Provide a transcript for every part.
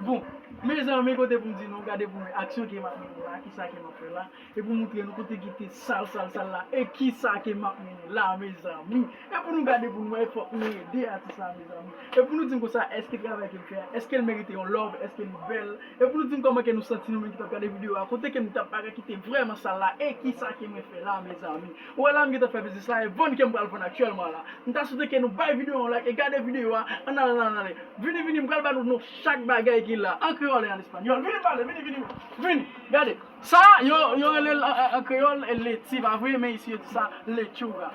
Bon Mezanmi kote pou m di nou gade pou mwen aksyon ke map mennen la kisa ke map fè la e pou moutre nou kote ki te sal sal sal la e kisa ke map mennen la mezanmi e pou nou gade pou nou wè fòk nou ede atis la mezanmi e pou nou di m konsa èske travay ke l fè a èske l merite yon love èske li bèl e pou nou di m kòman ke nou santi nou menm ki tap gade video a kote ke nou tap bagay ki te vrèman sal la e kisa ke mwen fè la mezanmi. Ou wè la m gentan fè biznis la e vann kem pral vann aktyèlman la m ta swete ke nou bay video a yon like e gade video a ann ale ann ale vini vini m pral ba nou chak bagay ki la an kreyòl e an espanyòl vini pale vini vini vini gade sa yo yo relel an kreyòl leti pa vre men isi yo di sa lechuga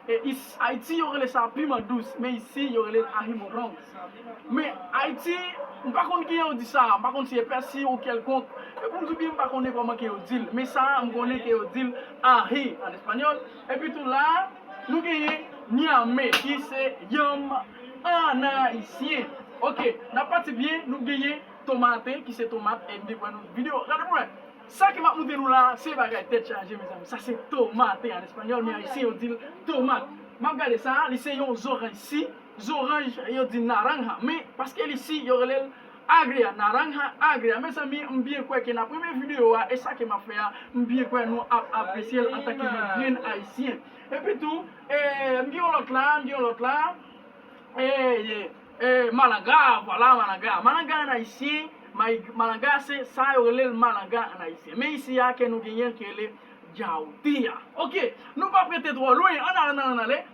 e ayiti yo rele sa piman dous men isi yo relel ahi morrons. Men, Ayiti, m pa konn kijan yo di sa a, m pa konn si e pèsi ou kèlkonk, e pou m di w byen m pa konnen kòman ke yo di l, men sa a m konnen ke yo di l ahi an espanyòl, epi tou la a, nou genyen nyame ki se yanm an ayisyen. Ok, n ap pati byen, nou genyen tomate ki se tomat, e m te kwè nou videyo, gade pou wè, sa ke m ap montre nou la a, se bagay tèt chaje mezanmi, sa se tomate an espanyòl, men ayisyen yo di l tomat, m ap gade sa a, li se yon zoranj si. Zoranj yo di naranja men paske li si yo relel agria naranja agria mezanmi m byen kwè ke nap renmen video a e sa ke map fè a m byen kwè nou ap apresyel antanke yon grenn ayisyen epi tou ee m gen yon lòt la m gen yon lòt la ee ee malanga vwala malanga malanga an ayisyen malanga se sa yo relel malanga an ayisyen men isi a ke nou genyenl ki rele djawotea ok nou pap rete twò lwen an ale an ale an ale.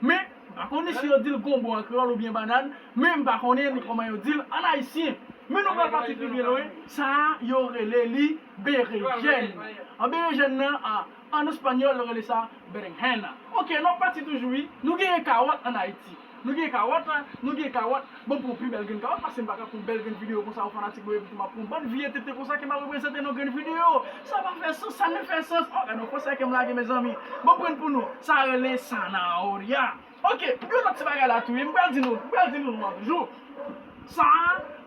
Men, m pa konnen si yo di l gonbo an kreyòl oubyen bannann, men m pa konnen ni kòman yo di l ann ayisyen. Men nou pral pati pi byen lwen, sa a, yo rele li berejèn. An berejèn nan, a, ann espanyòl, yo rele sa berenjena. Oke, n ap pati toujou wi. Nou genyen kawòt ann Ayiti. Nou genyen kawòt, nou genyen kawòt. Mwen pran pi bèl grenn kawòt pase m paka pran bèl grenn videyo konsa o fanatik mwen epi tou map pran bann vye tenten konsa ke map reprezante nan grenn videyo sa pa fè sans sa nefè sans oh gadon konsèy kem lage mezanmi bon prann pou nou sa rele sanaorya ok gen lòt ti bagay la tou wi m pral di nou m pral di nou non an toujou sa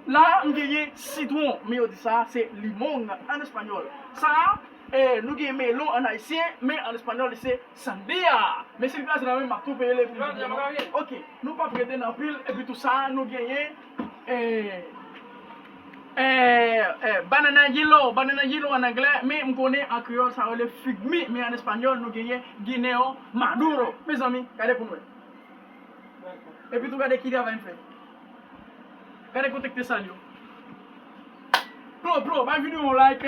la m genyen sitwon men yo di sa se limong an espanyòl sa Nou gen Melo an ayisyen men an espanyòl li se Sandia men si li kraze nan menm map tou peye l epi li byen non ok nou pap rete nan pil epi tou sa nou genyen Banana yilo Banana yilo an anglè men m konnen an kreyòl sa rele fig mi men an espanyòl nou genyen Guineo maduro mezanmi gade pou n wè epi tou gade ki travay m fè gade kontèk te sal yo plo plo bay videyo an yon like.